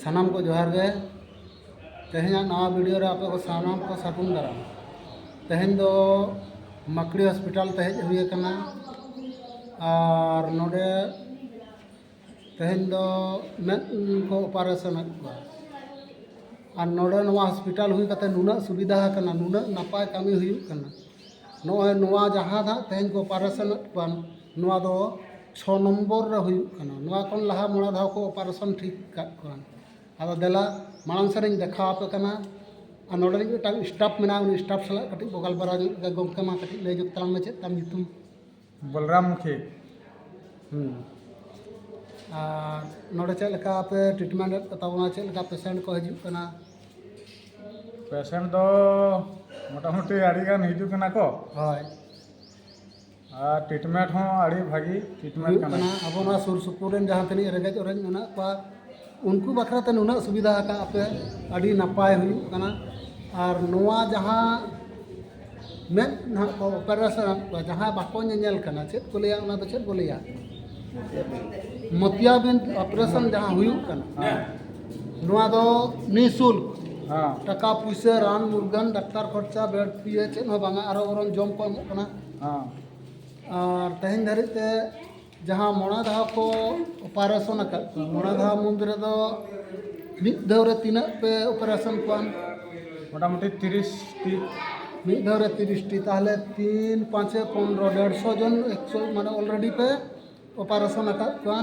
ᱥᱟᱱᱟᱢ ᱠᱚ ᱡᱚᱦᱟᱨ ᱜᱮ ᱛᱮᱦᱮᱧᱟᱜ ᱱᱟᱣᱟ ᱵᱷᱤᱰᱤᱭᱳ ᱨᱮ ᱟᱯᱮ ᱠᱚ ᱥᱟᱱᱟᱢ ᱠᱚ ᱥᱟᱹᱜᱩᱱ ᱫᱟᱨᱟᱢ ᱛᱮᱦᱮᱧ ᱫᱚ ᱢᱟᱠᱲᱤ ᱦᱚᱥᱯᱤᱴᱟᱞ ᱛᱮ ᱦᱮᱡ ᱦᱩᱭ ᱟᱠᱟᱱᱟ ᱟᱨ ᱱᱚᱰᱮ ᱛᱮᱦᱮᱧ ᱫᱚ ᱢᱮᱫ ᱠᱚ ᱚᱯᱟᱨᱮᱥᱚᱱ ᱮᱫ ᱠᱚᱣᱟ ᱟᱨ ᱱᱚᱰᱮ ᱱᱚᱣᱟ ᱦᱚᱥᱯᱤᱴᱟᱞ ᱦᱩᱭ ᱠᱟᱛᱮ ᱱᱩᱱᱟᱹᱜ ᱥᱩᱵᱤᱫᱷᱟ ᱟᱠᱟᱱᱟ ᱱᱩᱱᱟᱹᱜ ᱱᱟᱯᱟᱭ ᱠᱟᱹᱢᱤ ᱦᱩᱭᱩᱜ ᱠᱟᱱᱟ ᱱᱚᱜᱼᱚᱭ ᱱᱚᱣᱟ ᱡᱟᱦᱟᱸ ᱱᱟᱦᱟᱜ ᱛᱮᱦᱮᱧ ᱠᱚ ᱚᱯᱟᱨᱮᱥᱚᱱ ᱮᱫ ᱠᱚᱣᱟ ᱱᱚᱣᱟ ᱫᱚ ᱪᱷᱚ ᱱᱚᱢᱵᱚᱨ ᱨᱮ ᱦᱩᱭᱩᱜ ᱠᱟᱱᱟ ᱱᱚᱣᱟ ᱠᱷᱚᱱ ᱞᱟᱦᱟ ᱢᱚᱬᱮ ᱫᱷᱟᱣ ᱠᱚ ᱚᱯᱟᱨᱮᱥᱚᱱ ᱴᱷᱤᱠ ᱟᱠᱟᱫ ᱠᱚᱣᱟ ᱟᱫᱚ ᱫᱮᱞᱟ ᱢᱟᱲᱟᱝ ᱥᱮᱫ ᱨᱤᱧ ᱫᱮᱠᱷᱟᱣ ᱟᱯᱮ ᱠᱟᱱᱟ ᱟᱨ ᱱᱚᱰᱮ ᱱᱤᱡ ᱢᱤᱫᱴᱟᱝ ᱥᱴᱟᱯᱷ ᱢᱮᱱᱟᱭᱟ ᱩᱱᱤ ᱥᱴᱟᱯᱷ ᱥᱟᱞᱟᱜ ᱠᱟᱹᱴᱤᱡ ᱵᱚ ᱜᱟᱞᱢᱟᱨᱟᱣ ᱧᱚᱜ ᱞᱮᱜᱮ ᱜᱚᱢᱠᱮ ᱢᱟ ᱠᱟᱹᱴᱤᱡ ᱞᱟᱹᱭ ᱧᱚᱜ ᱛᱟᱞᱟᱝ ᱢᱮ ᱪᱮᱫ ᱛᱟᱢ ᱧᱩᱛᱩᱢ ᱵᱚᱞᱨᱟᱢ ᱢᱩᱠᱷᱤ ᱟᱨ ᱱᱚᱰᱮ ᱪᱮᱫ ᱞᱮᱠᱟ ᱯᱮ ᱴᱨᱤᱴᱢᱮᱱᱴ ᱮᱫ ᱠᱚᱛᱟ ᱵᱚᱱᱟ ᱪᱮᱫ ᱞᱮᱠᱟ ᱯᱮᱥᱮᱱᱴ ᱠᱚ ᱦᱤᱡᱩᱜ ᱠᱟᱱᱟ ᱯᱮᱥᱮᱱᱴ ᱫᱚ ᱢᱚᱴᱟᱢᱩᱴᱤ ᱟᱹᱰᱤ ᱜᱟᱱ ᱦᱤᱡᱩᱜ ᱠᱟᱱᱟ ᱠᱚ ᱦᱳᱭ ᱟᱨ ᱴᱨᱤᱴᱢᱮᱱᱴ ᱦᱚᱸ ᱟᱹᱰᱤ ᱵᱷᱟᱹᱜᱤ ᱴᱨᱤᱴᱢᱮᱱᱴ ᱦᱩᱭᱩᱜ ᱠᱟᱱᱟ ᱠᱟᱱᱟ ᱟᱵᱚ ᱱᱚᱣᱟ ᱥᱩᱨ ᱥᱩᱯᱩᱨ ᱨᱮᱱ ᱡᱟᱦᱟᱸ ᱛᱤᱱᱟᱹᱜ ᱨᱮᱸᱜᱮᱡ ᱚᱨᱮᱡ ᱢᱮᱱᱟᱜ ᱠᱚᱣᱟ ᱩᱱᱠᱩ ᱵᱟᱠᱷᱨᱟ ᱛᱮ ᱱᱩᱱᱟᱹᱜ ᱥᱩᱵᱤᱫᱷᱟ ᱟᱠᱟᱫ ᱯᱮ ᱟᱹᱰᱤ ᱱᱟᱯᱟᱭ ᱦᱩᱭᱩᱜ ᱠᱟᱱᱟ ᱟᱨ ᱱᱚᱣᱟ ᱡᱟᱦᱟᱸ ᱢᱮᱫ ᱱᱟᱦᱟᱜ ᱠᱚ ᱚᱯᱟᱨᱮᱥᱚᱱ ᱟᱫ ᱠᱚᱣᱟ ᱡᱟᱦᱟᱸ ᱵᱟᱠᱚ ᱧᱮᱧᱮᱞ ᱠᱟᱱᱟ ᱪᱮᱫ ᱠᱚ ᱞᱟᱹᱭᱟ ᱚᱱᱟ ᱫᱚ ᱪᱮᱫ ᱠᱚ ᱞᱟᱹᱭᱟ ᱢᱚᱛᱤᱭᱟᱵᱤᱱ ᱚᱯᱟᱨᱮᱥᱚᱱ ᱡᱟᱦᱟᱸ ᱦᱩᱭᱩᱜ ᱠᱟᱱᱟ ᱱᱚᱣᱟ ᱫᱚ ᱱᱤᱥᱩᱞᱠ ᱴᱟᱠᱟ ᱯᱩᱭᱥᱟᱹ ᱨᱟᱱ ᱢᱩᱨᱜᱟᱹᱱ ᱰᱟᱠᱛᱟᱨ ᱠᱷᱚᱨᱪᱟ ᱵᱮᱰ ᱯᱷᱤ ᱪᱮᱫ ᱦᱚᱸ ᱵᱟᱝᱟ ᱟᱨᱚ ᱵᱚᱨᱚᱝ ᱡᱚᱢ ᱠᱚ ᱮᱢᱚᱜ ᱠᱟᱱᱟ ᱟᱨ ᱛᱮᱦᱮᱧ ᱫᱷᱟᱹᱨᱤᱡ ᱛᱮ ᱡᱟᱦᱟᱸ ᱢᱚᱬᱮ ᱫᱷᱟᱣ ᱠᱚ ᱚᱯᱟᱨᱮᱥᱚᱱ ᱟᱠᱟᱫ ᱠᱚᱣᱟ ᱢᱚᱬᱮ ᱫᱷᱟᱣ ᱢᱩᱫᱽ ᱨᱮᱫᱚ ᱢᱤᱫ ᱫᱷᱟᱣ ᱨᱮ ᱛᱤᱱᱟᱹᱜ ᱯᱮ ᱚᱯᱟᱨᱮᱥᱚᱱ ᱠᱚᱣᱟ ᱢᱚᱴᱟᱢᱩᱴᱤ ᱛᱤᱨᱤᱥ ᱴᱤ ᱢᱤᱫ ᱫᱷᱟᱣ ᱨᱮ ᱛᱤᱨᱤᱥ ᱴᱤ ᱛᱟᱦᱚᱞᱮ ᱛᱤᱱ ᱯᱟᱸᱪᱮ ᱯᱚᱱᱨᱚ ᱰᱮᱲᱥᱚ ᱡᱚᱱ ᱮᱠᱥᱚ ᱢᱟᱱᱮ ᱚᱞᱨᱮᱰᱤ ᱯᱮ ᱚᱯᱟᱨᱮᱥᱚᱱ ᱟᱠᱟᱫ ᱠᱚᱣᱟ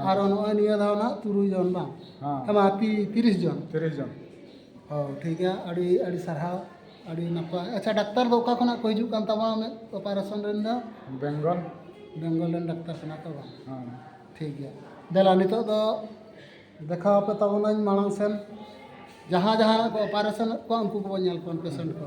ᱟᱨ ᱱᱚᱜᱼᱚᱭ ᱱᱤᱭᱟᱹ ᱫᱷᱟᱣ ᱱᱟᱜ ᱛᱩᱨᱩᱭ ᱡᱚᱱ ᱵᱟᱝ ᱦᱮᱸ ᱵᱟᱝ ᱛᱤᱨᱤᱥ ᱡᱚᱱ ᱛᱤᱨᱤᱥ ᱡᱚᱱ ᱚ ᱴᱷᱤᱠ ᱜᱮᱭᱟ ᱟᱹᱰᱤ ᱟᱹᱰᱤ ᱥᱟᱨᱦᱟᱣ ᱟᱹᱰᱤ ᱱᱟᱯᱟᱭ ᱟᱪᱪᱷᱟ ᱰᱟᱠᱛᱟᱨ ᱫᱚ ᱚᱠᱟ ᱠᱷᱚᱱᱟᱜ ᱠᱚ ᱦᱤᱡᱩᱜ ᱠᱟᱱ ᱛᱟᱢᱟ ᱩᱱᱟᱹᱜ ᱚᱯᱟᱨᱮᱥᱚᱱ ᱨᱮᱱ ᱫᱚ ᱵᱮᱝᱜᱚᱞ ᱵᱮᱝᱜᱚᱞ ᱨᱮᱱ ᱰᱟᱠᱛᱟᱨ ᱠᱟᱱᱟ ᱠᱚ ᱵᱟᱝ ᱦᱮᱸ ᱴᱷᱤᱠ ᱜᱮᱭᱟ ᱫᱮᱞᱟ ᱱᱤᱛᱚᱜ ᱫᱚ ᱫᱮᱠᱷᱟᱣ ᱟᱯᱮ ᱛᱟᱵᱚᱱᱟᱹᱧ ᱢᱟᱲᱟᱝ ᱥᱮᱱ ᱡᱟᱦᱟᱸ ᱡᱟᱦᱟᱸ ᱠᱚ ᱚᱯᱟᱨᱮᱥᱚᱱᱮᱫ ᱠᱚᱣᱟ ᱩᱱᱠᱩ ᱠᱚᱵᱚᱱ ᱧᱮᱞ ᱠᱚᱣᱟ ᱯᱮᱥᱮᱱᱴ ᱠᱚ